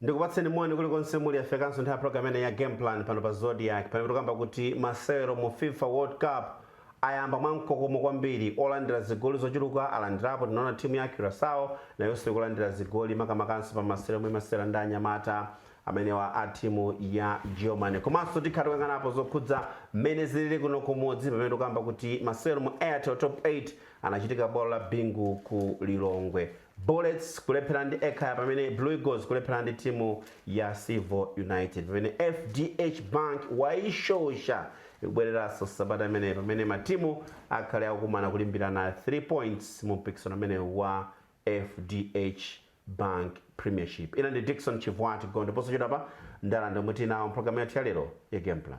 ndikupatseni moni kulikonse muli yafikanso nthawi ya program imene ya game plan pano pa zodiak pamene tikukamba kuti masewero mu fifa world cup ayamba mwa mkokomo kwambiri olandira zigoli zochuluka alandirapo tinaona timu ya curacao nayonso ikulandira zigoli makamakanso pa masewero omwe imasewera ndi anyamata amenewa a timu ya germany komanso tikhala tikuyang'anapo zokhudza mmene zilili kuno kumudzi pamene tikukamba kuti masewero mu airtel top 8 anachitika bwalo la bingu ku lilongwe Bullets kulepherana ndi Ekhaya pamene Blue Eagles kulepherana ndi timu ya Civo United. Pamene FDH Bank waishosha ikubwereranso sabata imeneyi pamene matimu akhale akukumana kulimbirana 3 points mu mpikisano umenewu wa FDH Bank Premiership. Ine ndi Dickson Chivwati Gondwe posachedwapa ndiwalandira omwe tili nawo mpulogalamu yathu ya lero ya Game Plan.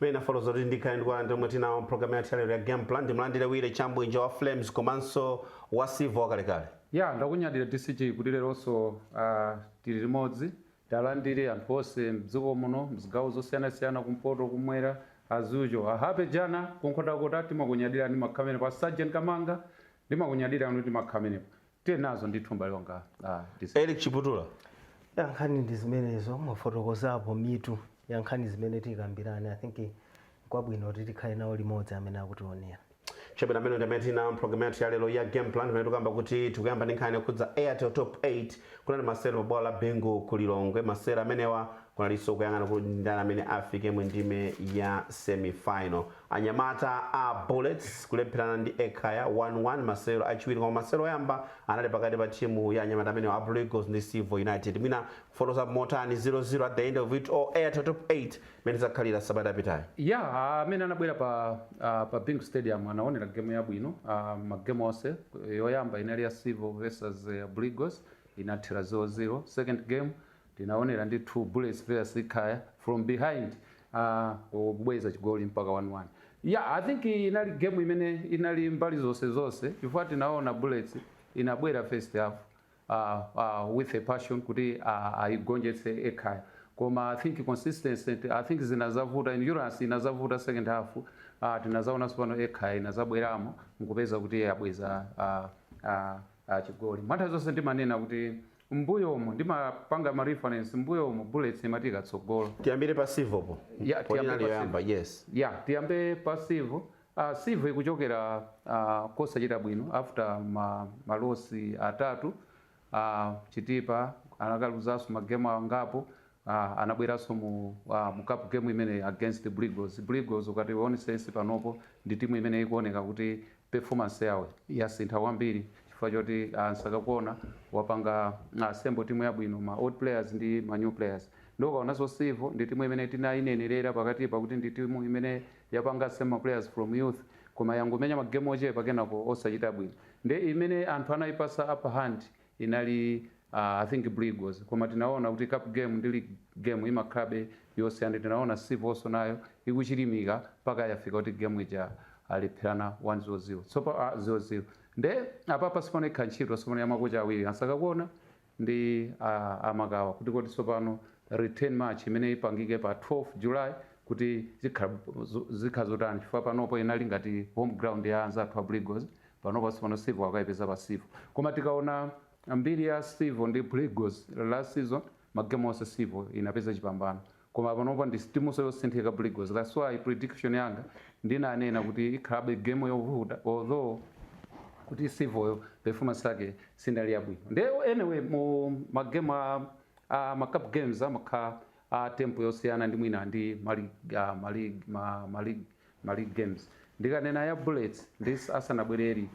mmene ndafotokozera kuti ndikhale ndikuwalandira omwe tili nawo mpulogalamu yathu yalero ya game plan ndimlandire willy chabwinja wa flames komanso wa silver wakalekale ya ndakunyadira dcg kuti leronso uh, tili limodzi tiwalandire anthu onse mdziko muno mzigawo zosiyanasiyana kumpoto kumwera azucho a happy jana ku nkhotakota timakunyadirani makhamene pa sergeant kamanga ndimakunyadirani kuti makhamene Tili nazo ndithu m'bale wanga ah, DC. Eric Chiputula. Ya nkhani ndi zimenezo mwafotokozapo mitu ya nkhani zimene tikambirane i think kwabwino kuti tikhale nawo limodzi amene akutionera chabwino amenewo ndi amene tili nawo mpulogalamu yathu ya lero ya game plan pamene tikukamba kuti tikuyamba ndi nkhani yokhudza airtel top 8 kunali masewero pa bwalo la bingu ku lilongwe masewero amenewa kunalinso kuyang'ana kuti ndani amene afike mu ndime ya semifinal Anyamata a Bullets kulepherana ndi Ekhaya 1 1 masewero achiwiri koma masewero oyamba anali pakati pa timu ya anyamata amenewa a Blue Eagles ndi Civo United. Mwina kufotokozapo motani 0 0 at the end of it all Airtel Top 8 mmene zakhalira sabata yapitayi? Yeah, amene anabwera pa ah, pa Bingu Stadium anaonera game yabwino ah, ma game onse yoyamba inali ya Civil versus eh, Blue Eagles inathera 0-0 second game Tinaonera ndithu Bullets players Ekhaya from behind aahh kubweza chigoli mpaka 1 1 yah I think inali game imene inali mbali zonse zonse chifukwa tinaona Bullets inabwera first half aahh aahh with a passion kuti aahh ayigonjetse Ekhaya koma I think consistency I think zinazavuta endurance inazavuta second half aahh tinazaonanso pano Ekhaya inazabweramo nkupeza kuti yabweza aahh aahh aahh chigoli mwanthawi zonse ndimanena kuti M'mbuyomu ndimapanga ma reference m'mbuyomu Bullets imati ikatsogola. Tiyambire pa Civil po Yeah po tiyambe inali pa yoyamba civil. yes. Yeah tiyambe pa civil. Ah civil ikuchokera ah kosachita bwino after ma ma loss atatu ah Chitipa anakaluzanso ma game angapo ah anabweranso mu ah mu cup game imeneyi against Blue Eagles. Blue Eagles ukati uwonesese panopo ndi timu imene ikuoneka kuti Performance yawo yasintha kwambiri chifukwa choti a Nsakakuona wapanga assemble timu yabwino ya ma old players ndi ma new players nde ukaonanso Civil ndi timu imene tinainenerera pakatipa kuti ndi timu imene yapanga assemble ma players from youth koma yangomenya ma game ochepa kenako osachita bwino ndi imene anthu anaipatsa upper hand inali uh, i think blue eagles koma tinaona kuti cup game ndi league game imakhalabe yosiyana tinaona Civo-so nayo ikuchilimika mpaka yafika kuti game ija alepherana 1-0 sorry uh, 0-0 nde apapa tsopano ikhala ntchito tsopano ya makocha awiri a Nsakakuona ndi uh, a Makawa kuti kodi tsopano return match imene ipangike pa 12 july kuti zikhala zo- zikhala zotani chifukwa panopo inali ngati home ground ya anzathu a Blue Eagles Panopa sopano Civil akaipeza pa civil koma tikaona mbiri ya civil ndi Blue Eagles last season ma game onse civil inapeza chipambano koma panopa ndi timuso yosinthika Blue Eagles that's why prediction yanga ndinanena kuti ikhalabe game yovuta although kuti civil yo performance yake sinali yabwino nde anyway mu ma game a, a ma cup games amakha a tempo yosiyana ndi mwina ndi ma league ah, ma league ma, ma league ma league games ndikanena ya bullets ndi asanabwere eric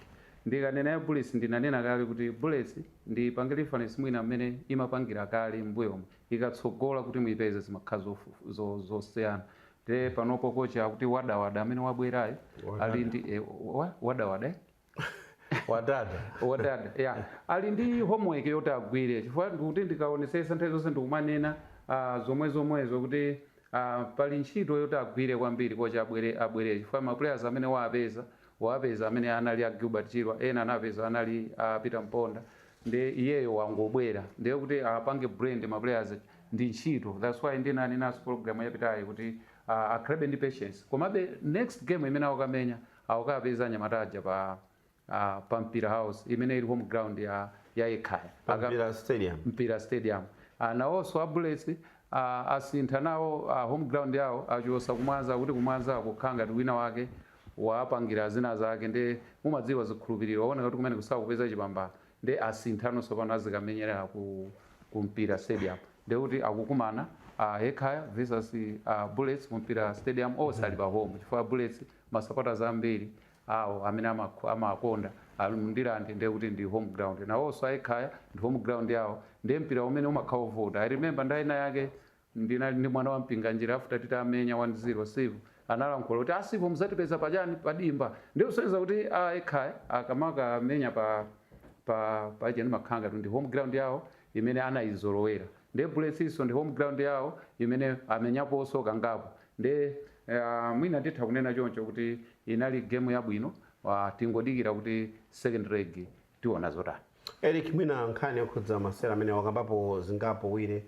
ndikanena ya bullets ndinanena kale kuti bullets ndiipange reference mwina mmene imapangira kale mmbuyomu ikatsogola kuti muipeze zimakhala zofu- zo- zosiyana nde panopo kocha akuti wadawada amene wabwerayo ali ndi eh, wa- wadawada eh? wadada wadada yeah. ali ndi homework yoti agwire chifukwa ndikuti ndikaonesesa nthawi zonse ndikumanena uh, zomwe zomwezo kuti uh, pali ntchito yoti agwire kwambiri kocha abwere abwere chifukwa ma players amene wawapeza wawapeza amene anali a Gilbert Chirwa ena anapeza anali a uh, Peter Mponda ndi iyeyo wangobwera ndiye kuti apange brand ma players ndi ntchito that's why ndinanenanso program yapitayi kuti uh, akhalabe ndi patience komabe next game imene akukamenya akukapeza anyamata aja pa uh, pa mpira house imene ili home ground ya ya Ekhaya Pa Aka- Mpira Stadium. mpira stadium uh, nawonso a bullets uh, asintha nawo uh, home ground yawo achosa kumwanza kuti kumwanza akukhala ngati wina wake wapangira zina zake ndi mumadziwa zikhulupiriro aona kuti kumene sakupeza chipambano nde asinthano sopano azikamenyera ku, ku mpira stadium nde kuti akukumana uh, Ekhaya versus uh, bullets ku mpira stadium onse ali pa home chifukwa bullets Ma supporters ambiri awo amene amakh amawakonda ali m'Ndirande ndiye kuti ndi home ground nawoso a ekhaya ndi home ground yawo ndiye mpira umene umakha ovuta i remember nthawi ina yake ndinali ndi mwana wa a Mpinganjira after titamenya 1 0 civil analankhula kuti a civil muzatipeza pa chani pa dimba ndiye kusonyeza kuti a ekhaya akamakamenya pa pa paja ndimakhala ngati ndi home ground yawo imene anayizolowera ndiye bullets-so ndi home ground yawo imene amenyaposo kangapo Nde eya mwina titha kunena choncho kuti inali game yabwino tingodikira kuti second leg tiona zotani. Eric mwina nkhani yokhudza masewero amene wakambapo zingapo wire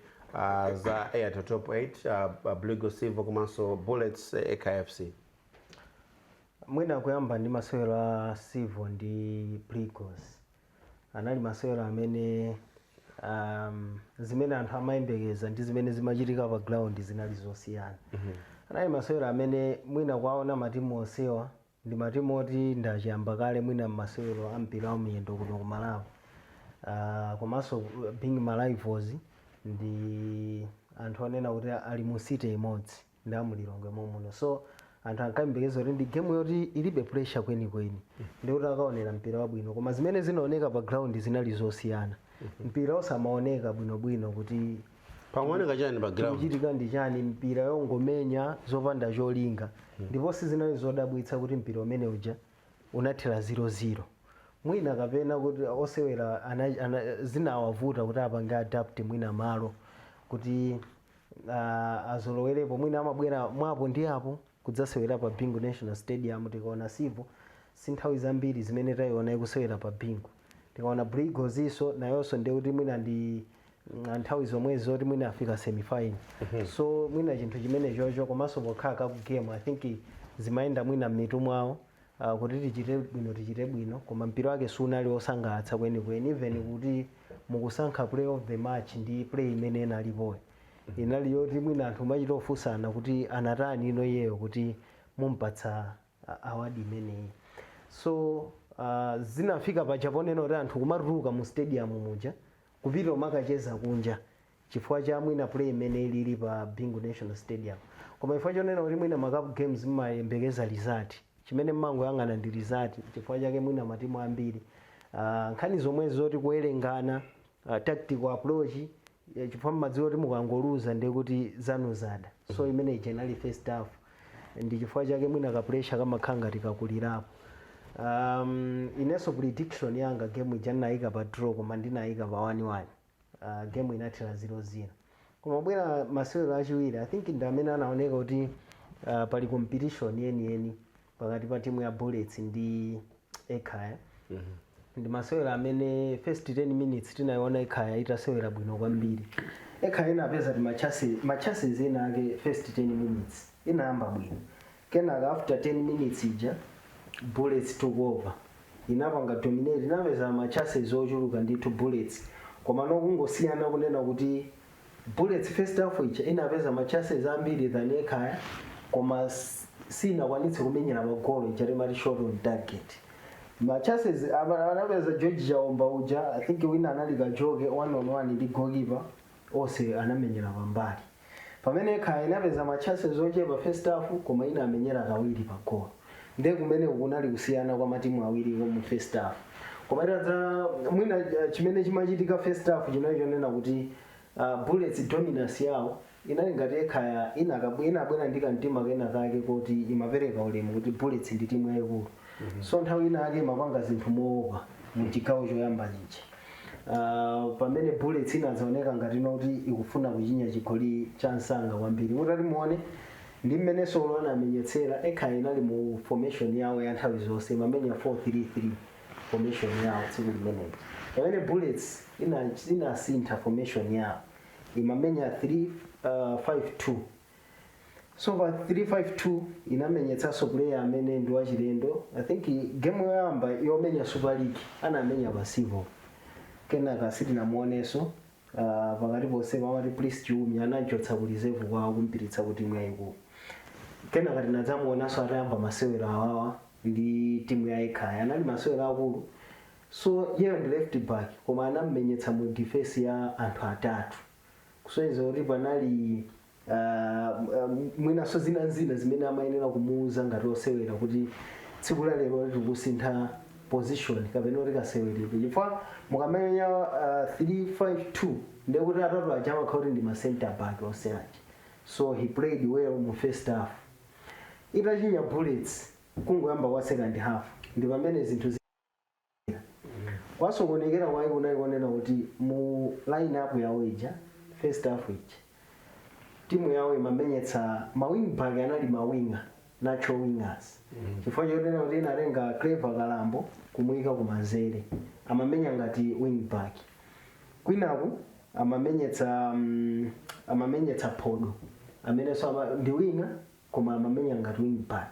za Airtel Top 8 Blue Eagles Civo komanso Bullets Ekhaya FC. Mwina kuyamba ndi masewero a Civo ndi Blue Eagles. anali masewero amene um, zimene anthu amayembekeza ndi zimene zimachitika pa ground zinali zosiyana anali masewero amene mwina kuwaona matimu onsewa ndi matimu oti ndi achiyamba kale mwina masewero a mpira wa miyendo kuno ku malawi Ah, komanso uh, being ma rivals ndi anthu onena kuti ali mu city imodzi ndi a mu Lilongwe mommuno so anthu ankayembekeza kuti ndi game yoti ilibe pressure kwenikweni ndikuti akaonera mpira wabwino koma zimene zinaoneka pa ground zinali zosiyana mpira osamaoneka bwinobwino kuti pamaoneka chani pa ground kuchitika ndi chani mpira ongomenya zopanda cholinga ndipo sizinali zodabwitsa kuti mpira umene uja unathera 0-0 mwina kapena kuti osewera ana- ana- zinawavuta kuti apange adapt mwina malo kuti uh, azolowerepo mwina amabwera mwa apo ndi apo kudzasewera pa bingu national stadium tikaona civo si nthawi zambiri zimene tayiona ikusewera pa bingu tikaona blue eagles so nayonso ndiye kuti mwina ndi mm, nthawi zomwezi zoti mwina afika semifinal so mwina chinthu chimenechocho komanso pokhala cup game i think zimayenda mwina m'mitu mwawo uh, kuti tichite bwino tichite bwino koma mpira wake sunali wosangalatsa kwenikweni even kuti mukusankha player of the match ndi play imene inalipoyo inali yoti mwina anthu mumachita ofunsana kuti anatani ino iyeyo kuti mumpatsa a- award imeneyi so uh, zinafika paja ponena kuti anthu kumatuluka mu stadium muja kupita kumakacheza kunja chifukwa cha mwina play imene ilili pa Bingu National Stadium koma chifukwa chonena kuti mwina ma cup games mmayembekeza result chimene mmangoyang'ana ndi result chifukwa chake mwina matimu ambiri ah, nkhani zomwezi zoti kuwerengana ah, tactical approach eh, chifukwa mmadziwa kuti mukangoluza ndiye kuti zanu zada so imene ija inali first half ndi chifukwa chake mwina ka pressure kamakhala ngati kakulirapo um, inenso prediction yanga game ija ndinayiyika pa draw koma ndinayiyika pa 1-1 uh, game inathera 0-0 koma kubwera masewero achiwiri i think ndi amene anaoneka kuti uh, pali competition yeniyeni pakati pa timu ya bullets ndi ekhaya ndi masewero amene first 10 minutes tinayiona ekhaya itasewera bwino kwambiri ekhaya inapeza ti machansi- ma chances ena ake first 10 minutes inayamba bwino kenaka after 10 minutes ija bullets took over inapanga dominate inapeza ma chances ochuluka ndithu bullets koma ndi kungosiyana kunena kuti Bullets first half ija inapeza ma chances ambiri than Ekhaya koma siyinakwanitse kumenyera pa goal ija timati shot on target. Ma chances apa anapeza George Chaomba uja I think wina anali Kajoke one on one ndi goalkeeper onse anamenyera pambali. Pamene Ekhaya inapeza ma chances ochepa first half koma inamenyera kawiri pa goal. ndiye kumeneku kunali kusiyana kwa matimu awiriwo mu first half koma tadza mwina eh, chimene chimachitika first half chinali chonena kuti uh, bullets dominance yawo inali ngati Ekhaya inakabwe- inabwera ndi kamtima kena kake koti imapereka ulemu kuti bullets ndi timu yayikulu so nthawi ina yake imapanga zinthu mowopa mu chigawo choyamba chichi Uh, pamene bullets inadzaoneka ngati kuti ikufuna kuchinya chigoli cha msanga kwambiri mutati muone Ndi mmene Solo anamenyetsera, ekhaya inali mu formation yawo ya nthawi zonse, imamenya 4 3 3 formation yawo tsiku limeneli. Pamene Bullets ija inasintha formation yawo, imamenya 3 uh, 5 2 so pa 352 inamenyetsanso player amene ndi wachilendo i think game yoyamba yomenya super league anamenya pa Civo kenaka sitinamuonenso Ah, pakati ponse pomwe Priest Chiumia anamchotsa ku reserve kwawo kumpititsa ku timu yayikulu kenaka tinadzamuonanso atayamba masewero awawa ndi timu ya ekhaya anali masewero akulu so iyeyo ndi left back koma anammenyetsa mu defense ya anthu atatu kusonyeza kuti panali Ah, um, mwinanso zina ndi zina zimene amayenera kumuuza ngati osewera kuti tsiku la lero tikusintha position kapena tikuti kaseweredwe chifukwa mukamenya ah, 352 ndiye kuti atatu aja amakhala kuti ndi ma center back onse aja so he played well mu first half itachinya bullets kungoyamba kwa second half ndi pamene zinthu zi- kwasokonekera kwake kunali konena kuti mu line up yawo ija first half ija timu yawo imamenyetsa mawing back anali mawinga natural wingers chifukwa chonena kuti inatenga clever kalambo kumuyika kumanzere amamenya ngati wing back kwinaku amamenyetsa mm, amamenyetsa phodo amenenso ama- ndi winga koma amamenya ngati wing back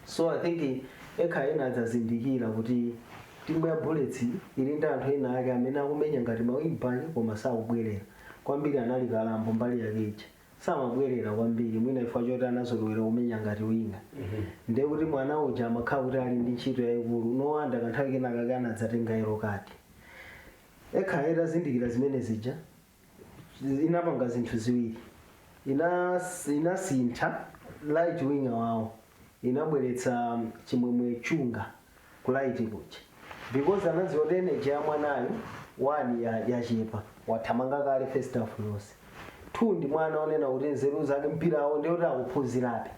so i think ekhaya inadzazindikira kuti timu ya bullets ili ndi anthu ena ake amene akumenya ngati mawingbaki koma sakubwerera kwambiri anali kalambo mbali yake ija samabwerera kwambiri mwina chifukwa choti anazolowera kumenya ngati winga ndiye kuti mwana uja amakhala kuti ali ndi ntchito yayikulu nowanda kanthawi kenakake anadzatenga yellow card ekhaya itazindikira zimene zija inapanga zinthu ziwiri Inas, inasintha right winger wawo inabweretsa chimwemwe chunga ku right kuja because anadziwa kuti energy ya mwanayo one yachepa wathamanga kale first half yonse two ndi mwana onena kuti nzeru zake mpirawo ndiye kuti akuphunzirabe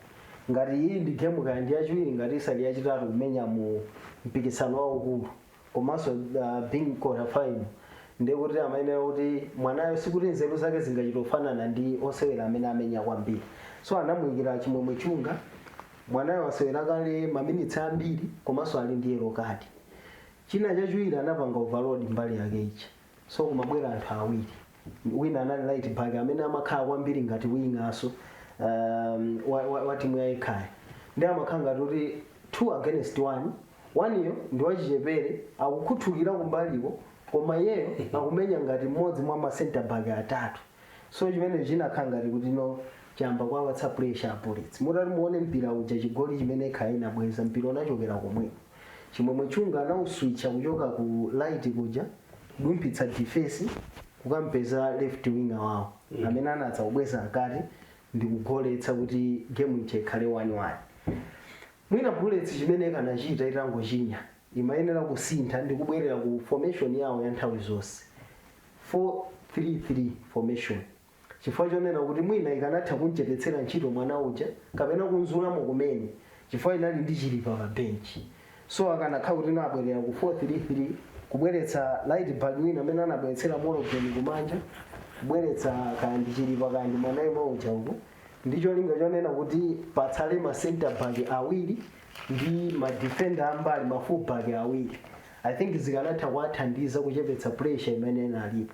ngati iyi ndi game kaya ndi yachiwiri ngati isali yachitatu kumenya mu mpikisano waukulu komanso uh, being qualified ndiye kuti amayenera kuti mwanayo sikuti nzeru zake zingachita kufanana ndi osewera amene amenya kwambiri so anamuyikira chimwemwe chunga mwanayo wasewera kale maminitsi ambiri komanso ali ndi yellow card china chachiwiri anapanga overload mbali yake ichi so kumabwera anthu awiri wina anali right back amene amakhala kwambiri ngati winger so um, wa, wa, wa timu ya Ekhaya ndiye amakhala ngati kuti two against one one-yo ndi wachichepere akukhuthukira kumbaliko koma iyeyo akumenya ngati mmodzi mwa ma center back atatu so chimene chinakhala ngati kuti no chayamba kuwapatsa pressure a Bullets mutati muone mpira uja chigoli chimene Ekhaya inabweza mpira unachokera komweko Chimwemwe Chunga anauswicha kuchoka ku right kuja kudumphitsa defence kukampeza left winger wawo amene anadza kubweza mkati ndikugoletsa kuti game ija ikhale 1-1. Mwina Bullets chimene ikanachita itangochinya imayenera kusintha ndi kubwerera ku formation yawo ya nthawi zonse 4 3 3 formation. chifukwa chonena kuti mwina ikanatha kumchepetsera ntchito mwana uja kapena kumzulamo kumene chifukwa inali ndi chilipa pa bench so akanakhala kuti anabwerera ku 433 kubweretsa right back wina amene anabweretsera Morgan kumanja kubweretsa kaya ndi chilipa kaya ndi mwana yemwe uja uku ndi cholinga chonena kuti patsale ma center back awiri ndi ma defender ambali ma full back awiri i think zikanatha kuwathandiza kuchepetsa pressure imene inalipo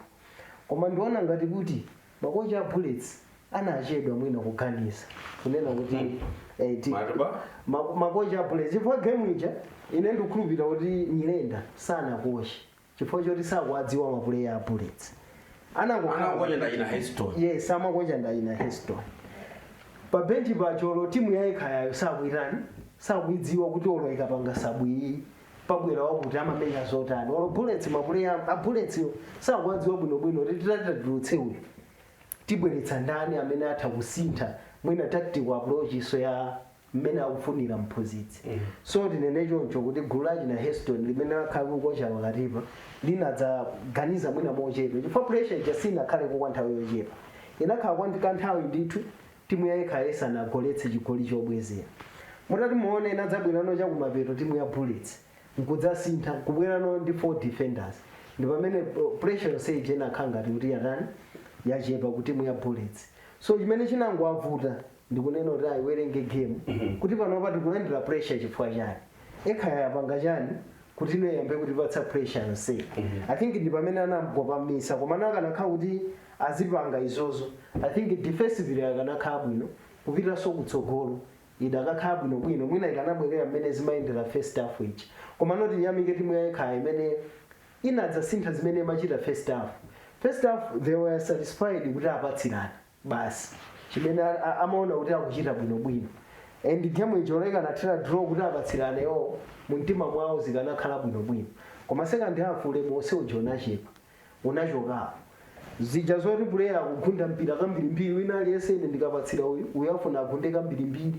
koma ndiona ngati kuti makocha a bullets anachedwa mwina kuganiza kunena kuti eh, ti- Matuba? ma- makocha a bullets chifukwa game ija ine ndikukhulupirira kuti nyirenda sanakoche chifukwa choti sakuwadziwa mapuleya a bullets anangokhala Anakocha ndi achina Heston. yes amakocha ndi achina heston pa benchi paja olo timu ya Ekhayayo sakuyitani sakuyidziwa kuti olo ikapanga sub iyi pabwera wakuti amamenya zotani olo bullets mapuleya a bullets yo sakuwadziwa bwinobwino kuti titati tatulutse uyu tibweretsa ndani amene atha kusintha mwina tactical approach so ya mmene akufunira mphunzitsi so tinene choncho kuti gulu la achina heston limene lakhala likukocha pakatipa linadzaganiza mwina mochedwa chifukwa pressure ija sinakhale kwa nthawi yochepa inakhala kwa kanthawi ndithu Timu ya Ekhaya isanagoletse chigoli chobwezera, mutati muwone inadzabwerano chakumapeto timu ya Bullets nkudzasintha kubwerano ndi 4 defenders ndipamene pressure yonse ija inakhala ngati kuti yatani yachepa ku timu ya Bullets so chimene chinangowavuta ndikunena kuti ayiwerenge game kuti panopa tikulandira pressure chifukwa chani Ekhaya yapanga chani kuti iyambe kutipatsa pressure yonse i think ndi pamene anangopamisa koma anakanakhala kuti azipanga izozo i think defensively akanakhala bwino kupitanso kutsogolo idakakhala bwino bwino mwina ikanabwerera mmene zimayendera first half ija komano tiyamike timu ya Ekhaya imene inadzasintha zimene imachita first half first half they were satisfied kuti apatsirana basi chimene a- a- amaona kuti akuchita bwinobwino and game ija ikanathera draw kuti apatsirane iwowo mu mtima mwawo zikanakhala bwinobwino koma second half ulemu onse uja unachepa unachokapo zija zoti puleya akugunda mpira kambirimbiri wina aliyense ine ndikapatsira uyu uyu afuna agunde kambirimbiri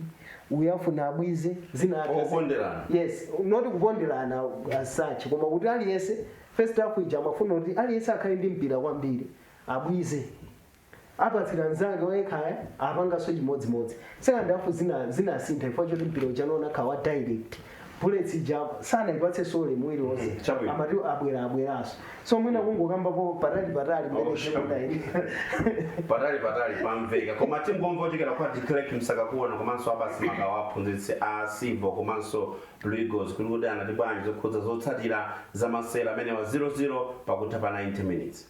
uyu afuna abwize zina akazi- Okonderana. yes not kukonderana as such koma kuti aliyense first half ija amafuna kuti aliyense akhale ndi mpira kwambiri abwize apatsira mzake wa Ekhaya apanganso chimodzimodzi second half zina zinasintha chifukwa choti mpira uja unaoneka wa direct bullets ija sanayipatse so ulemu uliwonse Mhm, chabwino. amati abwera abweranso so mwina kungokambapo patali patali mmene Oh, sure. chikudayi patali patali pamveka koma tingomva kuchokera kwa declerk Msakakuona komanso Abasi Makawa aphunzitsi a Civo komanso blue eagles kuti kuti anati bwanji zokhudza zotsatira za masewero amenewa 00 pakutha pa 90 minutes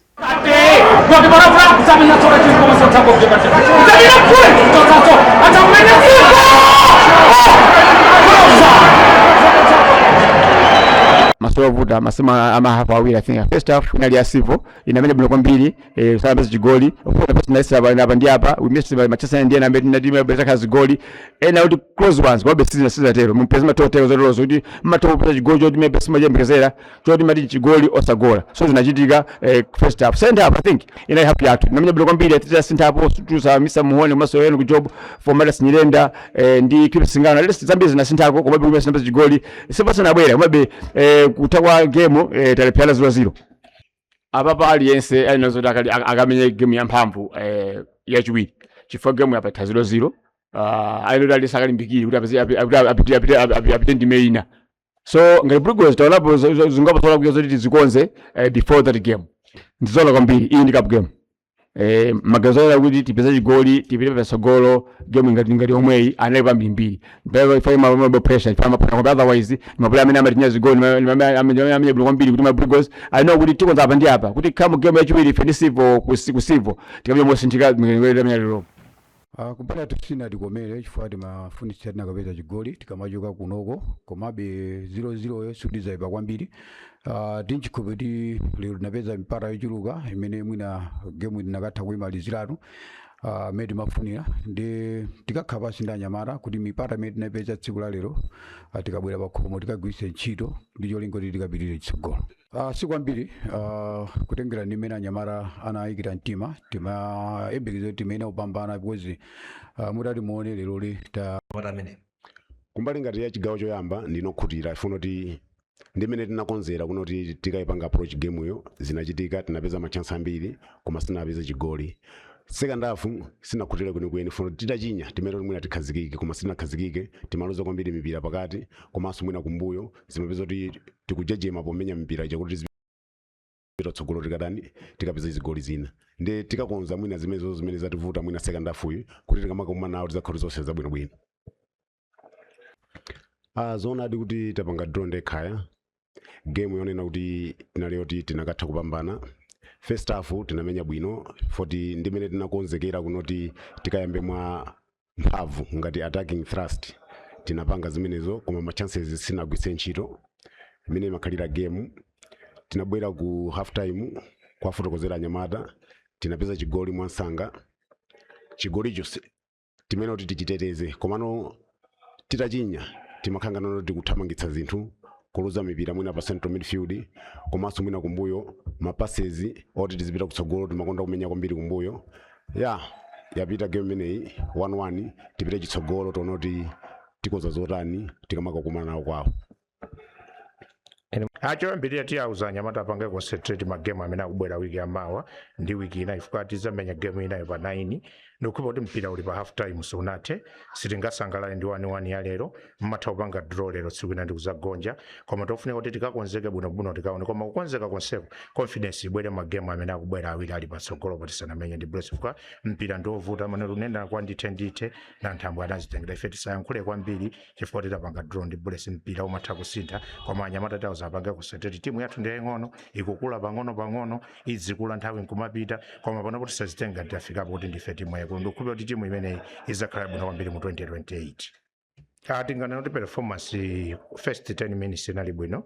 masewero ovuta masewera a mahafu awiri i think first half inali ya civil inamenya bwino kwambiri eh, sinapeze chigoli ofuna pesa na isa apa ndi apa we missed by many chances ndiye na mbeti na timu ya Brazil kazi goli ena kuti close ones kwa besi na sisa tero mpesa ma total zero zero kuti ma total pesa chigoli choti timayembekezera choti mati chigoli osagola so zinachitika eh, first half second half i think inali half yathu inamenya bwino kwambiri titasintha apo titalowetsa Mhone komanso Ian Chinyama Formatus nyirenda eh, ndi kipi singano lesi zambiri zinasinthako komabe kumene sinapeza chigoli sipasana abwera komabe eh, kutha kwa game eh, talepherana ziro ziro apapa aliyense ali nazo kuti akali- ak- akamenye game yamphamvu eh, yachiwiri chifukwa game yatha ziro ziro uh, ayenera aliyense akalimbikire kuti apeze- api- api- apite- apite- api- apite ndime ina so ngati Blue Eagles taonapo zo- zo- zingapo zolakwika zoti tizikonze eh, before that game ndizoona kwambiri iyi ndi cup game eh, maganizo ena kuti tipeza chigoli tipite pasogolo game ngati ngati omweyi anali pambirimbiri mpaka ifa imabwe pressure ifa amapana kwambiri otherwise mapuleya amene amatinya zigoli amenya bwino kwambiri kuti ma Blue Eagles alinawo kuti tikonza apa ndi apa kuti come game yachiwiri ife ndi sivo kusivo tikapita mosinthika mwenyewe tamenya lero Ah, kubwera sizinatikomere chifukwa timafunitsitsa tinakapeza chigoli tikamachoka kunoko komabe 0-0 yo siyoipa kwambiri ah, ndikukhulupira kuti lero tinapeza mipata yochuluka imene mwina gemu tinakatha kuimaliziratu ah, imene timafunira ndi tikakhala pansi ndi anyamata kuti mipata imene tinapeza tsiku la lero ah, tikabwera pakhomo tikagwiritse ntchito ndi cholinga kuti tikapitire chitsogolo Uh, si kwambiri uh, kutengera ndi mmene anyamata anayikira mtima timayembekezera kuti timayenera kupambana because uh, mutati muone lero li ta What a minute. kumbali ngati ya chigawo choyamba ndinakhutira chifukwa kuti ndimene tinakonzera kuno kuti tikayipanga approach game yo zinachitika tinapeza ma chance ambiri koma sitinapeze chigoli second half sindinakhutire kwenikweni chifukwa kuti titachinya timayenera mwina tikhazikike koma sitinakhazikike timaluza kwambiri mipira pakati komanso mwina kumbuyo zimapezeka kuti tikujejema pomenya mpira ija kuti tizipita tsogolo tikatani tikapeza zigoli zina ndi tikakonza mwina zimenezo zimene zativuta mwina second half iyi kuti tikamakumana nawo zizakhale zonse zabwinobwino ah zoonadi kuti tapanga draw ndiye ikhala game yonena kuti inali yoti tinakatha kupambana first half tinamenya bwino poti ndimene tinakonzekera kunoti tikayambe mwa mphamvu ngati attacking thrust tinapanga zimenezo koma ma chances sitinagwiritse ntchito mmene imakhalira game tinabwera ku half time kuwafotokozera anyamata tinapeza chigoli mwamsanga chigolicho si- timayenera kuti tichiteteze komano titachinya timakhala ngati tikuthamangitsa zinthu kuluza mipira mwina pa central midfield komanso mwina kumbuyo mapasezi oti tizipita kutsogolo timakonda kumenya kwambiri kumbuyo ya yapita game imeneyi 1-1 tipite chitsogolo tione kuti tikonza zotani tikamakakumana nawo kwawo ah choyambirira tiwauza anyamata apange concentrate magemu amene akubwera wiki yamawa ndi wiki ina ifika tizamenya gemu inayo pa 9 ndikukhulupira kuti mpira uli pa half time sunathe sitingasangalale ndi 1-1 ya lero mumatha kupanga draw lero tsiku lina ndikuzagonja koma chofunika kuti tikakonzeke bwinobwino tikaone koma kukonzeka konseko confidence ibwere magemu amene akubwera awiri ali patsogolo poti tisanamenye ndi bullets chifukwa mpira ndiovuta anene kuti kwa ndithe ndithe nanthambwe anazitengela ife tisayankhule kwambiri chifukwa choti tapanga draw ndi bullets mpira umatha kusintha koma anyamata tawauza apange kusintha timu yathu ndi yaying'ono ikukula pang'ono pang'ono idzikula nthawi nkumapita koma panopo tisazitenge tidafikapo kuti ndife timu yayikulu ndikukhulupira kuti timu imeneyi izakhala bwino kwambiri mu 2028 Ah, tinganene kuti performance eh, first 10 minutes inali bwino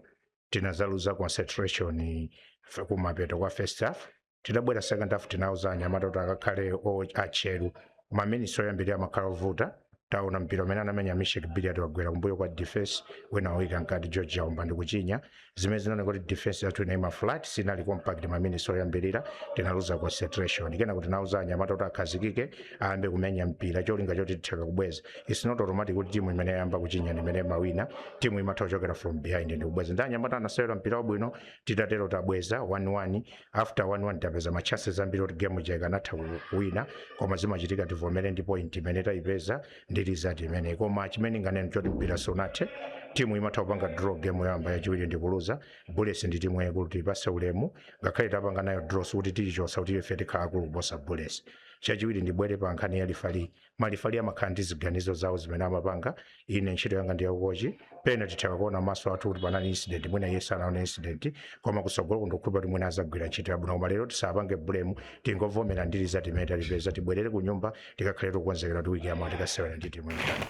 tinazaluza concentration eh, fe- kumapeto kwa first half tidabwera second half tinauza anyamata kuti akakhale o- atcheru ma minutes oyambirira amakhala ovuta taona mpira umene anamenya Misheck Billiat wagwera kumbuyo kwa defense wina wauika mkati George Chaomba ndi kuchinya zimene zinaoneka kuti defense yathu inaima flat sinali compact maminisi oyambirira tinaluza concentration kenako tinauza anyamata kuti akhazikike ayambe kumenya mpira cholinga choti tithe kubweza its not automatic kuti timu imene yayamba kuchinya ndi imene imawina timu imatha kuchokera from behind ndi kubweza ndi anyamata anasewera mpira wabwino titatero tabweza 1-1 after 1-1 tapeza ma chances ambiri kuti game ija ikanatha kuwina koma zimachitika tivomere ndi point imene tayipeza ndi result imeneyi koma chimene nganene choti mpira sunathe timu imatha kupanga draw game yoyamba yachiwiri ndi kuluza bullets ndi timu yayikulu tiyipatse ulemu ngakhale tapanga nayo draw sikuti tiyichotsa kuti ife tikhala akulu kuposa bullets chachiwiri ndibwere pa nkhani ya lefali malefali amakhala ndi ziganizo zawo zimene amapanga ine ntchito yanga ndi yakukochi pena titha kuona maso athu kuti panali incident mwina iye sanaona incident koma kutsogolo ndikukhulupira kuti mwina adzagwira ntchito yabwino koma lero tisapange blame tingovomera ndi result imene tayipeza tibwerere ku nyumba tikakhale tikukonzekera kuti wiki yamawa tikasewera ndi timu ya Uganda.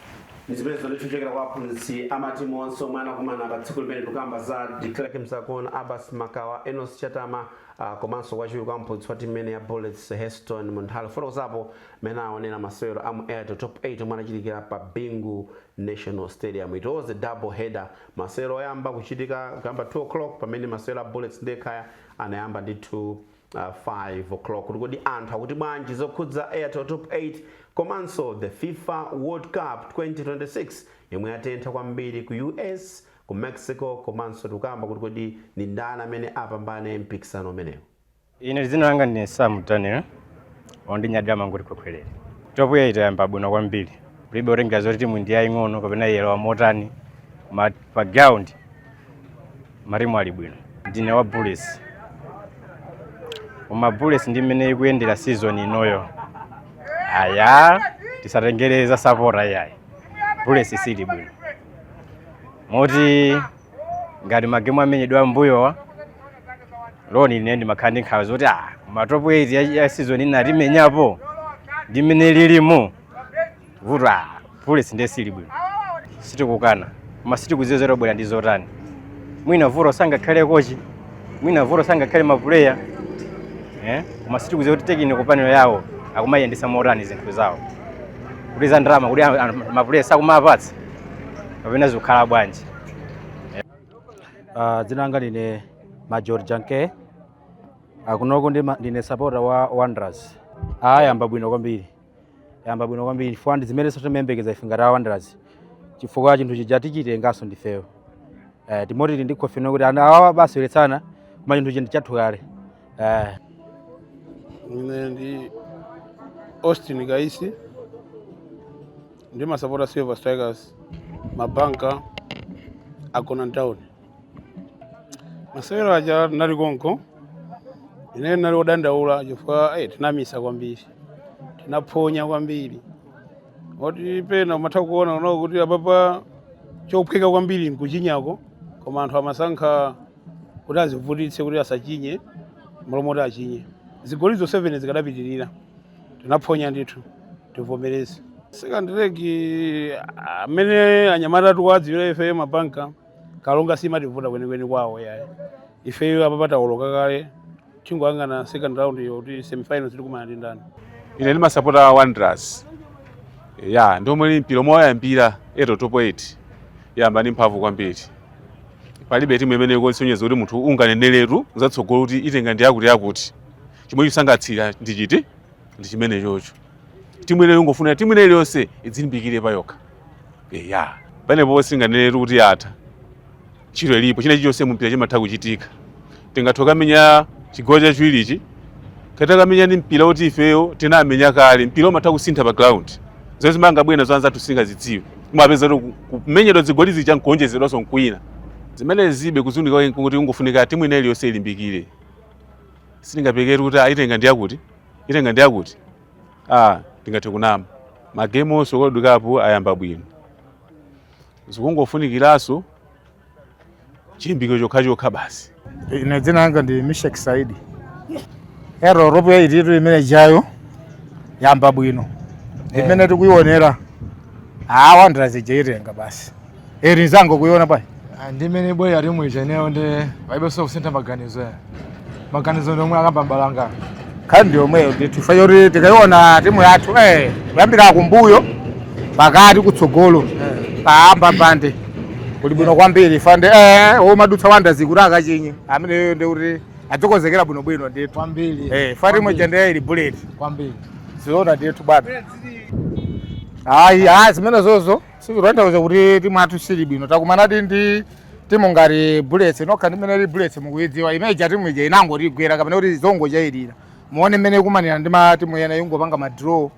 zipezo ndithu kuchokera kwa aphunzitsi amatimu onse omwe anakumana pa tsiku limene tikukamba za de klerk msakakuona abbas makawa enos chatama ah, komanso wachiwiri kwa mphunzitsi wa timu imene ya bullets heston munthali kufotokozapo mmene aonera masewero a mu airtel top 8 omwe anachitikira pa bingu national stadium it was a double header masewero oyamba kuchitika kuyamba 2 o'clock pamene masewero a bullets ndi ekhaya anayamba ndithu 5:00 kuti kodi anthu akuti bwanji zokhudza Airtel Top 8 komanso the fifa World Cup 2026 yomwe yatentha kwambiri ku US, ku Mexico komanso tikukamba kuti kodi ndi ndani amene apambane mpikisano umenewu. Ine dzina langa ndine Sam Daniel wo ndinyadira mangoti khwekhwerere. Top 8 yayamba bwino kwambiri. Kulibe otengera zoti timu ndi yaying'ono kapena yelo wamotani pa ground matimu ali bwino ndine wa bullets koma bullets ndi mmene ikuyendera season inoyo aya tisatengere za sapota iyayi bullets isili bwino moti ngati magemu amenyedwa ammbuyowa loni ine ndimakhala ndi nkhawa zoti ah matopu 8 ya- ya season ina timenyapo ndi mmene lilimu vuto ah, bullets ndiye sili bwino sitikukana koma sitikudziwa zoti abwera ndi zotani mwina vuto sangakhale kochi mwina vuto sangakhale mapuleya eh? koma sitikudziwa kuti tekiniko panelo yawo akumayendetsa motani zinthu zawo kuti za ndalama kuti a- a- mapuleya sakumawapatsa kapena zikukhala bwanji Uh, dzina langa ndine Major Janke. Akunoko ndi ma- ndine supporter wa Wanderers. Ayamba bwino kwambiri. yamba bwino kwambiri chifukwa ndi zimenenso timayembekeza ife ngati awanderers chifukwa chinthu chija tichitenganso ndifeyo eh, timoti tili ndi confidence kuti awawa abaseweretsana koma chinthu chija ndi chathu kale eh, ine ndi austin kaisi ndimasapota silver strikers mabanka agona mtown masewero aja nali konko ine nali odandaula chifukwa ayi tinamisa kwambiri tinaphonya kwambiri poti pena umatha kuona nawo kuti apapa chophweka kwambiri nkuchinya koma anthu amasankha kuti azivutitse kuti asachinye m'malo moti achinye zigoli zonse 7 zikadapitirira tinaphonya ndithu tivomereze second leg amene anyamata tikuwadziwira ife mabanka Karonga siimativuta kwenikweni kwawo yayi ifeyo apa patawoloka kale chingwangana second round iyo kuti semifinals tikumana ndi ndani ine ndimasapota wanderers ya ndiomwe ni mpira omwe wayambira top 8 yayamba ndi mphamvu kwambiri palibe timu imene ikuonetsa kuti munthu unganeneretu za tsogolo kuti itenga ndi yakuti yakuti chomwe chikusangalatsira ndi choti ndi chimenechocho timu ineyo ndingofuna timu ina iliyonse idzilimbikire pa yokha eya panepo sitinganeneretu kuti yatha ntchito ilipo china chilichonse mumpira chimatha kuchitika tingathe kukamenya chigawo chachiwirichi katakamenya ndi mpira woti ifeyo tinamenya kale mpira umatha kusintha pa ground zomwe angabwere nazo anzathu sitingazidziwe mupeza kuti ku- kumenyedwa zigoli zija nkuonjezedwanso zina zimene ndiye kufunika kuti kungofunika timu ina iliyonse ilimbikire sitingapekeretu kuti itenga ndi yakuti itenga ndi yakuti ah tingathe kunena magemu onse world cup ayamba bwino zikungofunikiranso chilimbikiro chokhachokha basi ine dzina langa ndi Misheck saidi eya top 8 imene ija yayamba bwino imene tikuionera awa ndirazijaitenga basi Eri zangokuiona bwana. Ah, ndi mene boy ali mu ijeneyo ndi paibe so kusintha maganizo ya. Maganizo ndi omwe akamba mbalanga. Kandi omweyo oti ifeyo kuti tikaiona timu yathu eh kuyambira kumbuyo pakati kutsogolo eh. paamba pande kuli bwino kwambiri fande eh omadutsa wanda zikuti akachinye amene ndi kuti adzokozekera bwino bwino ndithu kwambiri eh fati moja ndiye ili Bullets kwambiri siona ndithu bwana ayi ayi zimenezozo sizikutanthauza kuti timu yathu sili bwino takumanadi ndi timu ngati bullets nokha mmene ili bullets mukuyidziwa imene ija timu ija inangoti ikugwera kapena kuti zongochayirira muone mmene ikumanira ndi matimu ena ingopanga madraw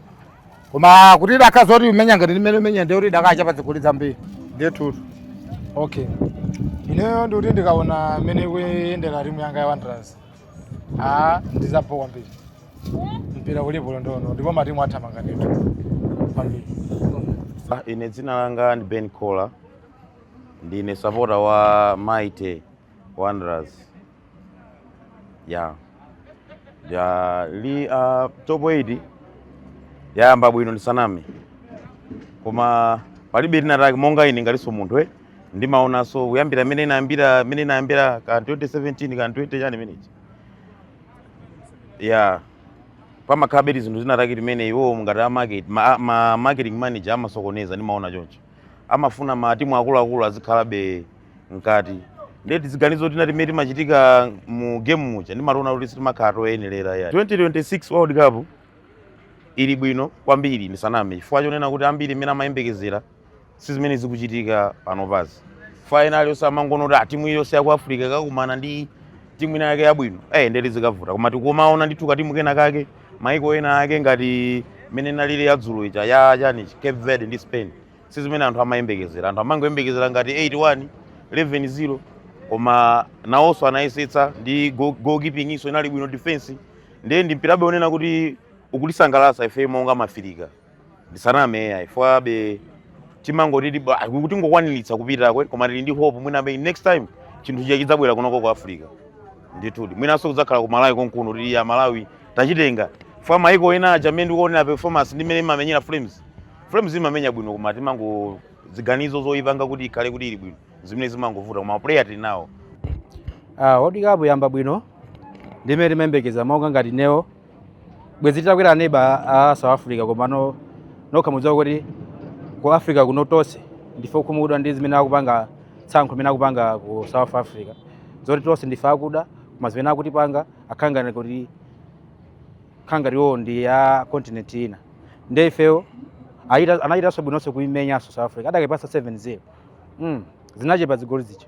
koma kuti idakakhala zoti ikumenya ngati mmene ikumenyera ndi kuti idakachapa zigoli zambiri ndiye tutu okay ineyo ndikuti ndikaona mmene ikuyendera timu yanga ya wanderers Ah, ndi za bho kwambiri mpira ulipo londono ndipo matimu athamanga ndithu kwambiri Ah, ine dzina langa ndi Ben Kola ndine sapota wa mighty wanderers ya ya li uh, top 8 yayamba bwino ndisaname koma palibe lina lake monga ine ngatinso munthu eh ndimaonanso kuyambira mmene inayambira mmene inayambira ka 2017 ka 20 chani chimenechi ya pamakhabe zinthu zinatake timene iwo ngati a market ma, ma marketing manager amasokonezera ndimaona choncho amafuna matimu akuluakulu azikhalabe mkati ndiye tiziganizo tina timene timachitika mu game muja ndimationa kuti sitimakhala toyenerera ya 2026 world cup ili bwino kwambiri ndisaname chifukwa chonena kuti ambiri zimene amayembekezera si zimene zikuchitika panopazi fainali osamangonoti a timu iliyonse ya ku africa ikakumana ndi timu ina yake yabwino eh nde kuti zikavuta koma tikumaona ndithu katimu kena kake maiko ena ake ngati mmene inalili ya dzulo ija ya chani cape verde ndi spain si zimene anthu amayembekezera anthu amangoyembekezera ngati 81 11-0 koma nawonso anayesetsa ndi go- goalkeeping iso inali bwino defense ndiye ndi mpirabe kunena kuti ukutisangalatsa ife monga mafirika ndisaname ai ifebe timangoti ti- ah, kuti tingokwaniritsa kupitako koma tili ndi hope mwina be next time chinthu chija chidzabwera kunoko ku africa ndithudi mwinanso kudzakhala ku malawi konkuno kuti a malawi tachitenga fwa maiko ena aja mmene ndikuonera performance ndi mmene imamenyera flames flames imamenya bwino koma timaziganizo zoyipanga kuti ikhale kuti ili bwino zimene zimangovuta koma player tili nawo Ah, World Cup yayamba bwino ndimene timayembekezera monga ngati ineyo bwezi titakwera aneba a south africa komano nokha mudziwa kuti ku africa kuno tonse ndife okhumudwa ndi zimene akupanga tsankho limene akupanga ku south africa zoti tonse ndife akuda koma zimene akutipanga akukhala ngati kuti kukhala ngati iwowo ndi a continent ina nde ifeyo ayita- anachitanso bwinonso kuimenyanso south africa akadaipatsa 7-0 mm. zinachepa zigoli zija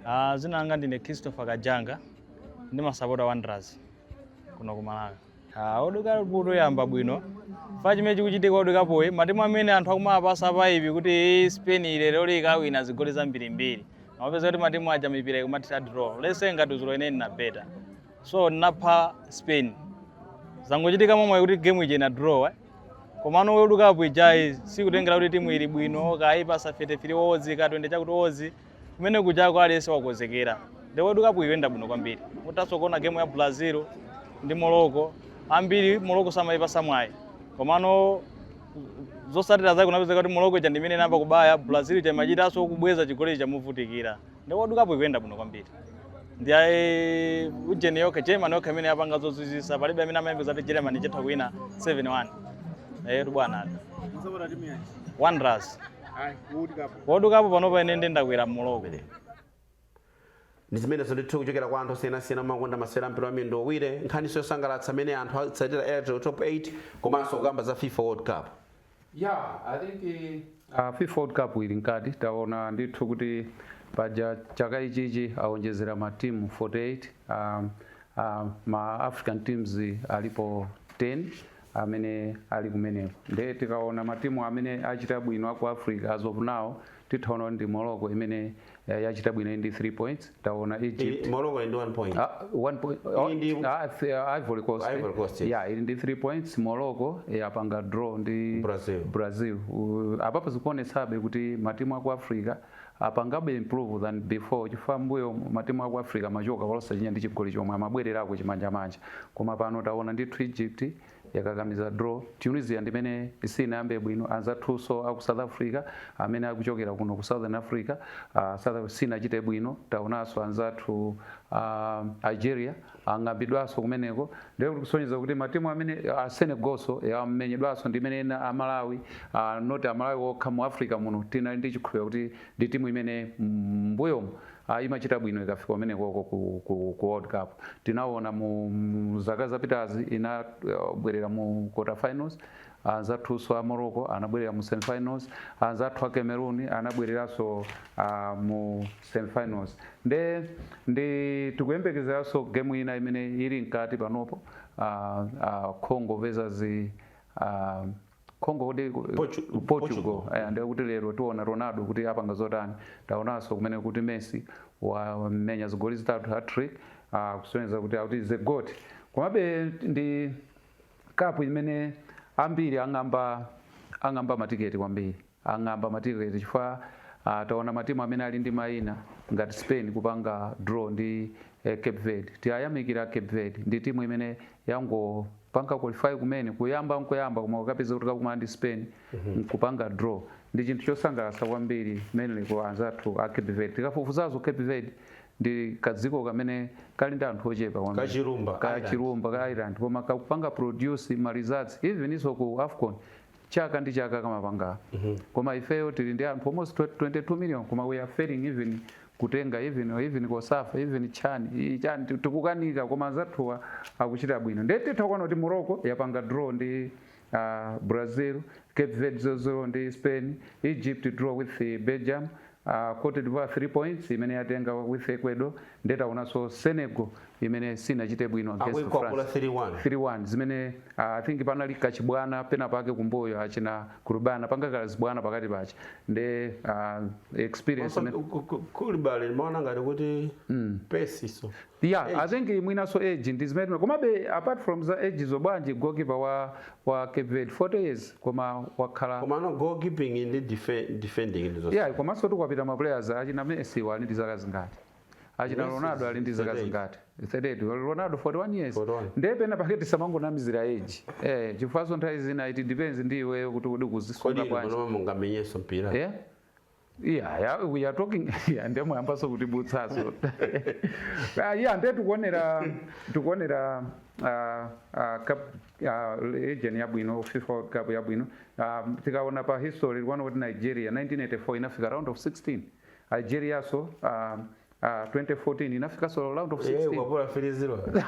Ah, dzina langa ndine christopher kajanga ndimasapota wanderers kuno ku malawi Ah, world cup kutu yayamba bwino chifukwa chimene chikuchitika world cup uyi matimu amene anthu akumapatsa hype kuti "Eh, spain lero ikawina zigoli zambirimbiri amapeza kuti matimu aja mipira ikumathera draw let's say ngati dzulo ine ndinabeta so ndinapatsa spain zangochitika momwe kuti game ija ina draw eh? komano world cup ijayi sikutengera kuti timu ili bwino kuipatsa 33 odds ka 20 chakuti odds kumene kuja aliyense wakonzekera the world cup ikuyenda bwino kwambiri mutanso kuona game ya brazil ndi morocco ambiri morocco samayipatsa mwayi komano zotsatira zake unapeza kuti morocco ija ndimene inayamba kubaya brazil ija imachitanso kubweza chigoli ija movutikira the world cup ikuyenda bwino kwambiri ndi iyi ujeni yokha germany yokha imene yapanga zozizwitsa palibe amene amayembekeza kuti germany itha kuwina 7-1 eyetu bwana Mumasapota timu yanji. wanderers wodukapo pano panene ndi ndakwera mmuloko Amen. ndi zimenezo ndithu kuchokera kwa anthu osiyanasiyana omakonda masewera a mpira wa miyendo iwiri nkhaninso yosangalatsa amene anthu atsatira airtel top 8 komanso kukamba za fifa world cup Yeah, I think uh, FIFA World Cup ili mkati taona ndithu kuti paja chaka ichichi aonjezera matimu 48 um, uh, ma African teams alipo 10 amene ali kumeneko nde tikaona matimu amene achita bwino aku Africa as of now titha ona ndi Morocco imene eh, yachita bwino ili ndi 3 points taona Egypt Iyi- Morocco ili ndi 1 point Ah, one point. Oh, Ili ndi- ah, th- ah, Ivory Coast. Ivory Coast, yes. Yeah, ili ndi 3 points. Morocco yapanga draw ndi Brazil. Brazil. Uh, apapo zikuonetsabe kuti matimu aku Africa Apangabe improve than before chifukwa mmbuyomu matimu aku Africa amachoka olo osachinya ndi chigoli chomwe amabwererako chimanjamanja koma pano taona ndithu Egypt yakakamiza draw, Tunisia ndimene sinayambe bwino, anzathunso aku South Africa amene akuchokera kuno ku Southern Africa, ah, South Africa sinachite bwino, taonanso anzathu a Algeria. ang'ambidwaso kumeneko ndiye kuti kusonyeza kuti matimu amene a Senegalso amenyedwaso ndi imene ena a Malawi not a Malawi okha mu Africa muno tinali ndi chikhulupiriro kuti ndi timu imene mbuyomu ah, imachita bwino ikafika kumenekoko ku, ku, ku World Cup tinaona mu, mu zaka zapitazi inabwerera mu quarter finals Anzathunso a Morocco anabwerera mu semifinals, anzathu a Cameroon anabwereranso uh, mu semifinals. Nde ndi tikuyembekezeranso game ina imene ili mkati panopo uh, uh, Congo versus Congo kuti Portugal, Portugal. Eh, ndiye kuti lero tiona Ronaldo kuti apanga zotani. Taonanso kumene kuti Messi wamenya zigoli zitatu hat-trick uh, kusonyeza kuti akuti he is a goat. Komabe ndi Cup imene ambiri ang'amba ang'amba matiketi kwambiri ang'amba matiketi chifukwa uh, taona matimu amene ali ndi maina ngati Spain kupanga draw ndi eh, Cape Verde tiyayamikira Cape Verde ndi timu imene yangopanga qualify kumene kuyamba nkuyamba koma ukapeza kuti kakumana ndi Spain nkupanga draw ndi chinthu chosangalatsa kwambiri mainly kwa anzathu a Cape Verde tikafufuza za Cape Verde ndi kadziko kamene kali ndi anthu ochepa kwambiri. Kachilumba ka Island. chilumba ka island koma kakumapanga produce ma results even iso ku afcon chaka ndi chaka kamapanga koma ifeyo tili ndi anthu almost 22 million koma we are failing even kutenga even even COSAFA even chani i- chani ti- tikukanika koma anzathuwa akuchita bwino ndiye titha kuona kuti morocco yapanga draw ndi a Brazil. Cape Verde 0-0 ndi Spain, Egypt draw with Belgium, a Cote d'Ivoire 3 points imene yatenga with Ecuador, nde taonanso Senegal imene sinachite bwino against akuikwapula France. 3-1 3-1 zimene uh, i think panali kachibwana pena pake kumbuyo achina kurubana panga kachibwana pakati pache nde uh, experience imene- kulibale limaona ngati kuti pesiso Yeah, age. I think mwinaso age ndi zimene komabe apart from za age nzobwanji goalkeeper wa wa Cape Verde 40 years koma wakhala koma no goalkeeping ndi defending ndi zonse. Yeah, komanso tikapita ma players achina Messi wa ndi zaka zingati achina Ronaldo ali ndi zaka zingati 38 Ronaldo 41 years ndiye pena pake tisamangonamizira age eh chifukwa so nthawi zina it depends ndi iweyo kuti kodi ukuzisunga bwanji kodi mungamenyenso mpira yeah Yeah, yeah, we are talking yeah, nde muyambaso kuti butsaso Ah, yeah, nde tikuonera tikuonera ah, ah, cup ah, region yabwino fifa world cup yabwino Ah, tikaona pa history tikuona kuti nigeria 1984 inafika round of 16 algeriaso ah, Ah, 2014 inafikanso round of 16. Eh, kukwapula 3-0.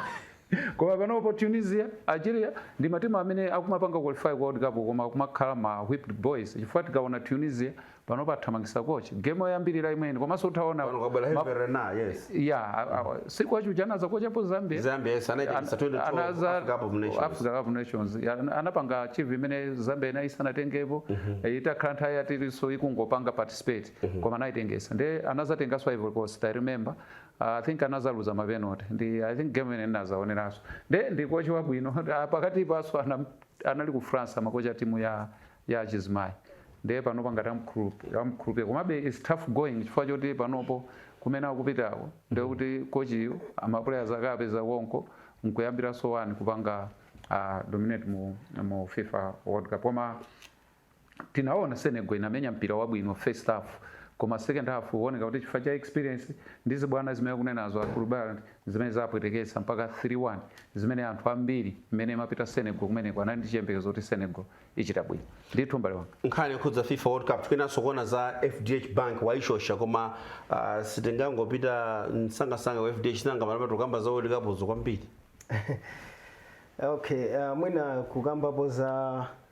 koma panopo tunisia algeria ndi matimu amene akumapanga qualify kwa world cup koma akumakhala ma whipping boys chifukwa tikaona tunisia panopo athamangisa coach game yoyambirira imene komanso utaona Saudi ajuja anaza kochako zambia nations anapanga achieve zimene zambia inayi sanatengepo mhm. eh, itakhala nthawi yaitali ikungopanga participate Mhm. koma anaitengesa nde anazatengaso ivory coast i remember uh, i think anazaluza mapenalty ndi i think game ija ndinadzaoneraso nde ndi kochi wabwino Ah, pakati paso anam- anali ku france amakocha timu ya ya achizimayi nde panopa ngati amkhulupi- amkhulupiye komabe its tough going chifukwa choti panopo kumene akupitako ndekuti kochiyo ma player ake apeza konko nkuyambiraso wani kupanga uh, dominate mu, mu fifa world cup koma tinaona Senegal inamenya mpira wabwino first half koma second half kuoneka kuti chifukwa cha experience ndi zibwana zimene akunenazo a Kulibale zimene zapwetekesa mpaka 3-1 zimene anthu ambiri mmene imapita Senegal kumeneko anali ndi chiyembekezo kuti Senegal ichita bwino ndithu mbale wanga nkhani yokhudza fifa world cup tikufunanso kuona za fdh bank wayishosha koma uh, sitingangopita msangasanga wa fdh nanga malapa tikukamba za world cup kwambiri okay uh, mwina kukambapo za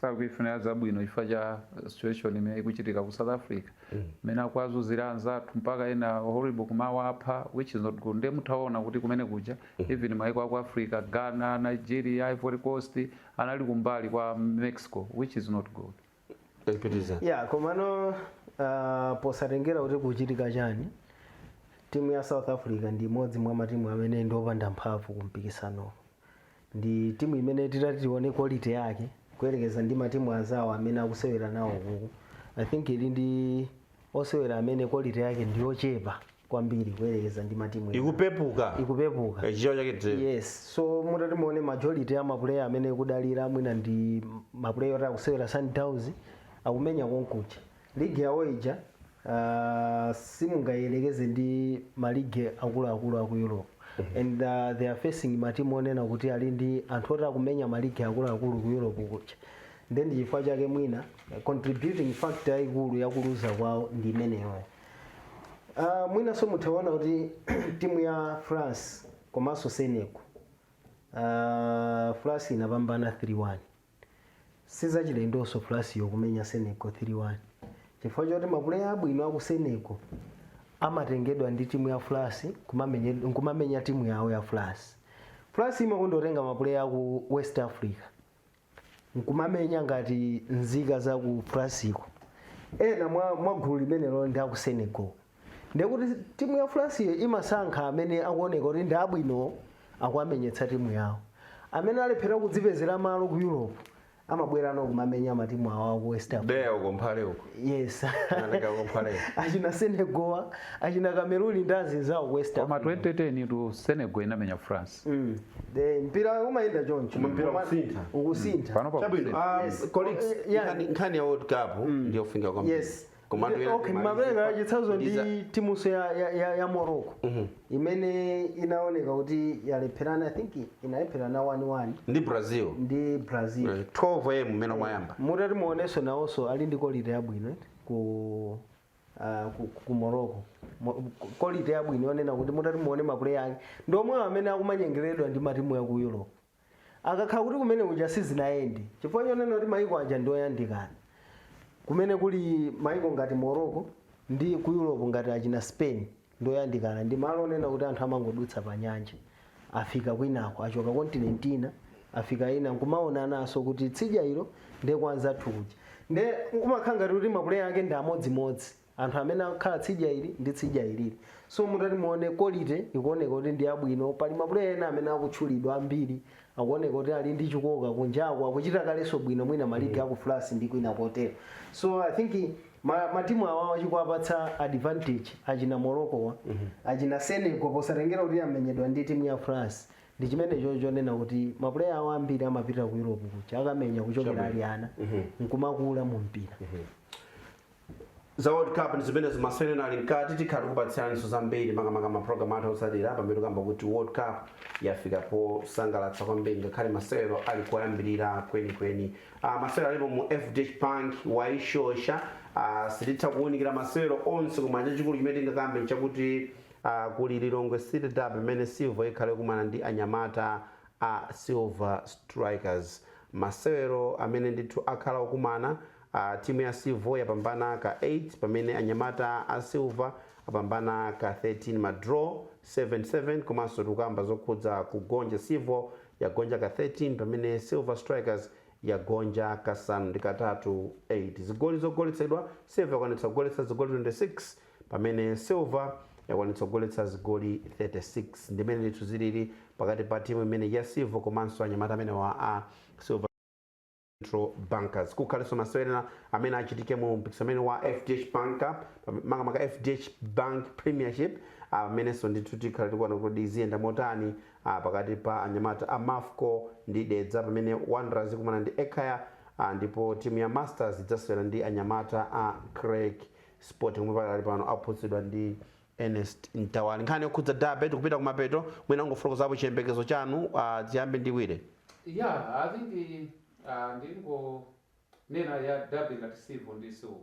sakuifunira zabwino chifukwa cha situation imene ikuchitika ku South Africa mmene akuwazunzira anzathu mpaka ena horrible kumawapha which is not good ndiye mutaona kuti kumene kuja even maiko aku Africa Ghana Nigeria Ivory Coast anali kumbali kwa Mexico which is not good Mpitiriza. ya komano uh, posatengera kuti kukuchitika chani timu ya south africa ndi imodzi mwa matimu amene ndi opanda mphamvu ku mpikisano ndi timu imene titati tione quality yake kuyerekeza ndi matimu anzawo amene akusewera nawo kuku i think ili ndi osewera amene quality yake ndi yochepa kwambiri kuyerekeza ndi matimu ena. ikupepuka ikupepuka Eh, chichewa chake tiri yes so mutati muone majority ya mapuleya amene akudalira mwina ndi mapuleya oti akusewera sundowns akumenya konkuja League yawo ija simungayelekeze ndi ma league akuluakulu aku Europe and they are facing ma team onena kuti ali ndi anthu oti akumenya ma league akuluakulu ku Europe kuja nde ndi chifukwa chake mwina contributing factor yaikulu yakuluza kwawo ndi imeneyoyo. Uh, mwinanso mutha kuona kuti timu ya France komanso Senegal uh, France inapambana 3-1 Sizachilendonso France yo kumenya Senegal 3 1 chifukwa choti ma player abwino aku Senegal amatengedwa ndi timu ya France kumamenyed nkumamenya timu yawo ya France. France imakondotenga ma player aku West Africa nkumamenya ngati nzika za ku France ko. Ena mwa mwa gulu limenelo ndi aku Senegal. ndekuti timu ya franceyo imasankha amene akuoneka kuti ndi abwino akuwamenyetsa timu yawo amene alephera kudzipezera malo ku europe amabwera no kumamenya matimu awo aku west africa dera uko mphale uko yes Anatenga kumphale. achina senegal achina cameroon ndi azinzawo ku west koma africa 2002 senegal inamenya france Mm. The mpira umayenda choncho Mpira Koma- ukusintha. ukusintha pano pa chabwino ah, colleagues Yeah. nkhani- nkhani ya world cup ndiyofunika kwambiri Yes. Komatu Ndi- ena okay, timalize mwapereka kwa- chitsanzo ndi ndiza- timunso ya, ya, ya, ya morocco imene inaoneka kuti yalepherana i think inalepherana 1-1 ndi brazil ndi brazil Eh, 12 a mmene mwayamba mutati muonenso nawonso ali ndi kolite yabwino eti, ku ah, ku, ku morocco Mo- ku- kolite yabwino yonena kuti mutati muone mapuleya ake ndi omwewo amene akumanyengeredwa ndi matimu a ku europe akakhala kuti kumenya kuja sizinayende chifukwa chonena kuti maiko aja ndi oyandikana kumene kuli maiko ngati morocco ndi ku europe ngati achina spain ndi oyandikana ndi malo onena kuti anthu amangodutsa pa nyanja afika kwinako achoka kontinenti ina afika ina nkumaonananso kuti tsidya ilo ndi kwa anzathu kuja nde kumakhala ngati kuti mapuleya ake ndi amodzimodzi anthu amene akukhala tsidya ili ndi tsidya ilili so mutati muone kolite ikuoneka kuti ndi yabwino pali mapuleya ena amene akutchulidwa ambiri akuoneka kuti ali ndi chikoka kunjako akuchita kaleso bwino mwina maligi aku france ndi kwina kotero so i think ma- matimu awa chikuwapatsa advantage achina moroccowa achina senegal posatengera kuti amenyedwa ndi timu ya france ndi chimenecho chonena kuti mapuleya awo ambiri amapita ku europe kuja akamenya kuchokera ali ana nkumakula mu mpira za world cup ndi zimenezo masewero ena ali mkati tikhala tikupatsiraniso zambiri makamaka ma program athu otsatira pamene tikamba kuti world cup yafika posangalatsa kwambiri ngakhale masewero ali koyambirira kwenikweni uh, masewero alipo mu fdh bank waishosha uh, sititha kuwunikira masewero onse koma chachikulu chimene tingakambe nchakuti uh, kuli lilongwe city derby pamene civil ikhale ikumana ndi anyamata a silver strikers masewero amene ndithu akhala okumana A timu ya Civil yapambana ka 8 pamene anyamata a Silver apambana ka 13 ma draw 7 7 komanso tikukamba zokhudza kugonja Civil yagonja ka 13 pamene Silver Strikers yagonja kasanu ndi katatu 8 zigoli zogoletsedwa Civil yakwanitsa kugoletsa zigoli 26 pamene Silver yakwanitsa kugoletsa zigoli 36 ndi mmene ndithu zilili pakati pa timu imene ya Civil komanso anyamata amenewa a Silver Central Bankers. Kukhaleso masewero ena amene achitike mu mpikisano umene wa FDH Bank Cup, makamaka FDH Bank Premiership, amenenso ndithu tikhala tikuona kuti ziyenda motani ah, pakati pa anyamata a Mafco ndi Dedza pamene Wanderers ikumana ndi Ekhaya ah, ndipo timu ya Masters idzasewera ndi anyamata a Creck Sporting omwe pakali pano aphunzitsidwa ndi Ernest Mtawali. Nkhani yokhudza Derby tikupita kumapeto, mwina ungofotokozapo chiyembekezo chanu ah, tiyambe ndi Willy. Yeah, I think ah, ndingonena ya Derby ngati Civo ndi silver.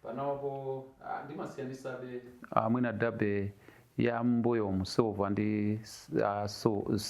Panopo ah, ndimasiyanisabe ah, mwina Derby ya mbuyomu silver ndi ah,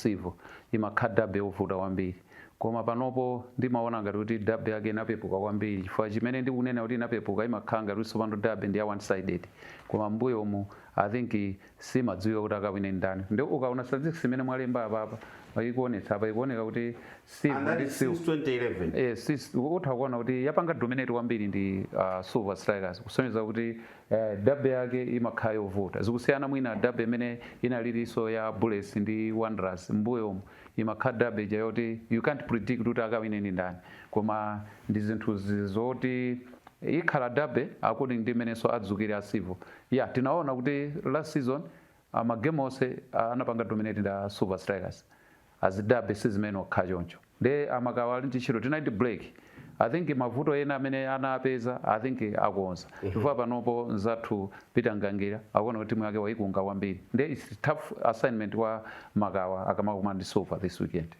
Civo imakhala Derby yovuta kwambiri. Koma panopo ndimaona ngati kuti derby yake inapepuka kwambiri chifukwa chimene ndikunena kuti inapepuka imakhala ngati kuti tsopano derby ndi ya one sided koma m'mbuyomu i think simadziwika kuti akawine ndani nde ukaona statistics imene mwalemba apapa pa ikuonetsa apa ikuoneka kuti silver ndi Anali since silver 2011. Eh, sis- utha kuona kuti yapanga dominate kwambiri ndi uh, silver strikers kusonyeza kuti uh, derby yake imakhala yovuta zikusiyana mwina derby imene inaliliso ya bullets ndi wanderers mbuyomu imakhala derby ija yoti you can't predict kuti akawine ndi ndani koma ndi zinthu zi- zoti ikhala derby according ndi mmenenso adzukire a civil ya tinaona kuti last season ah, magemu onse ah, anapanga dominate ndi a silver strikers azidabe sizimene okha choncho nde a makawa ali ndi ntchito tinali ndi break i think mavuto ena amene anawapeza i think akonza mhm. chifukwa panopo nzathu peter mgangira akuona kuti timu yake waikunga kwambiri nde its tough assignment kwa makawa akamakumana ndi silver this weekend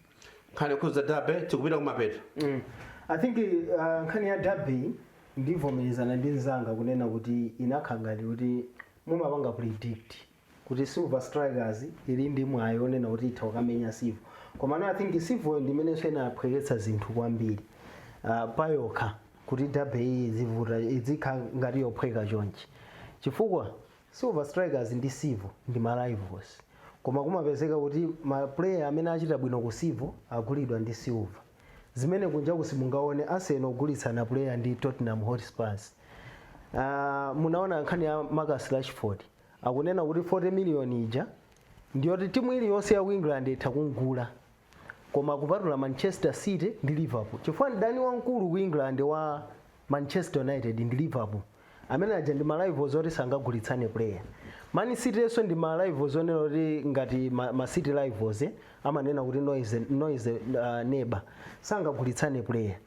nkhani yokhudza derby tikupita kumapeto mm. i think uh, nkhani ya derby ndivomerezana ndi mzanga kunena kuti inakhala ngati kuti mumapanga predict kuti Silver Strikers ili ndi mwayi onena kuti itha kukamenya Civil komano I think Civil ndimenenso inaphweketsa zinthu kwambiri uh, payokha kuti derby iyi isavute izikhala ngati yophweka chonchi chifukwa Silver Strikers ndi Civil ndi ma rivals koma kumapezeka kuti ma player amene achita bwino ku Civil agulidwa ndi Silver zimene kunjaku simungaone Arsenal akugulitsana player ndi Tottenham Hotspurs uh, munaona nkhani ya Marcus Rashford akunena kuti 40 million ija ndiyoti timu iliyonse ya ku england itha kumgula koma kupatula manchester city ndi liverpool chifukwa mdani wamkulu ku england wa manchester united ndi liverpool amene aja ndi ma rivals oti sangagulitsane player man city yenso ndi ma rivals onena kuti ngati ma, ma city rivals eh, amanena kuti noisy, noisy uh, neighbour sangagulitsane player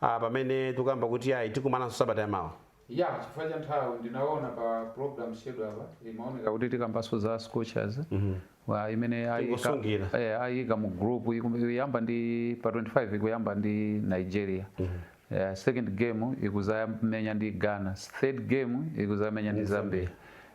ah, pamene tikuyamba kuti ayi tikumananso sabata yamawa yeah chifukwa cha nthawi ndinaona pa program schedule apa imaoneka kuti tikambanso za scorchers mm -hmm. imene ayika eh, mu group ikuyamba ndi pa 25 ikuyamba ndi nigeria mm -hmm. Yeah, second game ikuzamenya ndi Ghana, third game ikuzamenya ndi Zambia.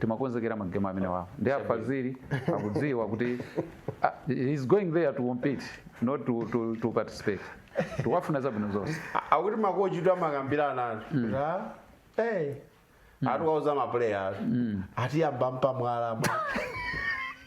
timakonzekera magemu amenewawo ndi a Fazili akudziwa kuti ah, he's going there to compete not to, to, to participate tiwafuna zabwino zonse akuti makochitu amakambiranatu kuti ah, eh, ati wauza mapuleya ati atiyamba mpamwala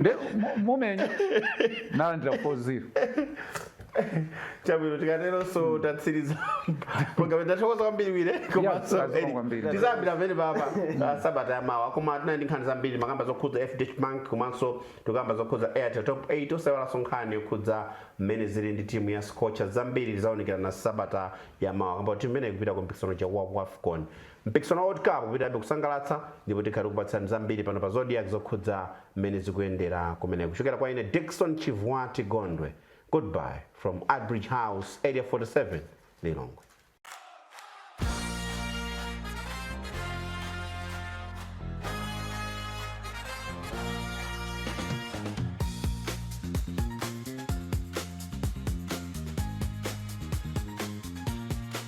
nde mu- mumenya nalandira 40 chabwino tikateronso tatsiriza programu tathokoza kwambiri wire komanso Yeah, Eli. kwambiri. tizayambira pamenepapa ah, sabata ya mawa koma tinali ndi nkhani zambiri makamba zokhudza fdh bank komanso tikamba zokhudza airtel top 8 osayiwalanso nkhani yokhudza mmene zili ndi timu ya scorcher zambiri tizaonekera na sabata ya mawa kamba timu imene ikupita ku mpikisano wa wafcon Mpikisano wa World Cup upitirirabe kusangalatsa ndipo tikhala tikupatsirani zambiri pano pa Zodiak zokhudza mmene zikuyendera kumeneko. Kuchokera kwa ine Dickson Chivwati Gondwe, goodbye from Artbridge House, Area 47, Lilongwe.